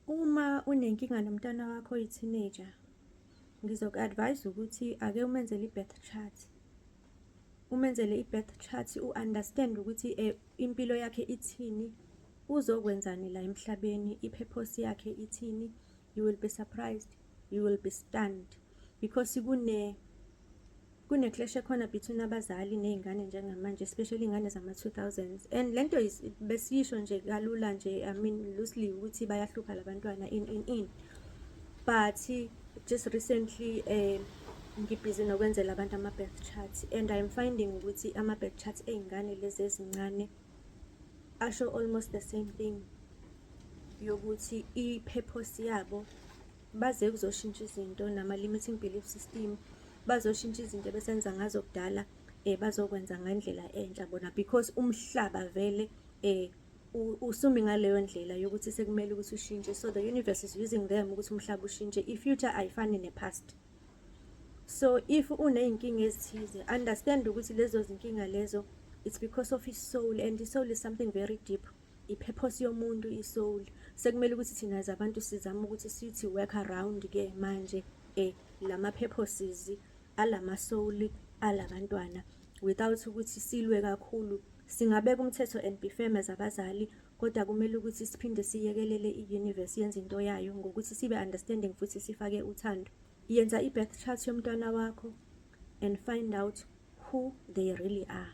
Uma unenkinga nomntwana wakho oyi-teenager, ngizoku-advise ukuthi ake umenzele i-birth chart. Umenzele i-birth chart, u-understand ukuthi eh, impilo yakhe ithini, uzokwenzani la emhlabeni, i-purpose yakhe ithini. You will be surprised, you will be stunned because kune kune clash ekhona between abazali nezingane njengamanje especially ingane zama 2000s and lento besisho nje kalula nje i mean loosely ukuthi bayahlupha labantwana in in in but just recently eh ngibhizi nokwenzela abantu ama birth charts and i'm finding ukuthi ama birth charts ezingane lezi ezincane asho almost the same thing yokuthi i purpose yabo Baze kuzoshintsha izinto nama-limiting belief system bazoshintsha izinto ebesenza ngazo kudala um bazokwenza ngendlela entsha bona because umhlaba vele um usumi ngaleyo ndlela yokuthi sekumele ukuthi ushintshe so the universe is using them ukuthi umhlaba ushintshe i-future ayifani ne-past so if uney'nkinga ezithize understand ukuthi lezo zinkinga lezo it's because of i-soul and i-soul is something very deep ipurpose yomuntu isoul sekumele ukuthi thina as abantu sizame ukuthi sithi work around ke manje eh lama purposes alama soul alabantwana without ukuthi silwe kakhulu singabeka umthetho and be firm as abazali kodwa kumele ukuthi siphinde siyekelele i-universe yenze into yayo ngokuthi sibe understanding futhi sifake uthando yenza i-birth chart yomntwana wakho and find out who they really are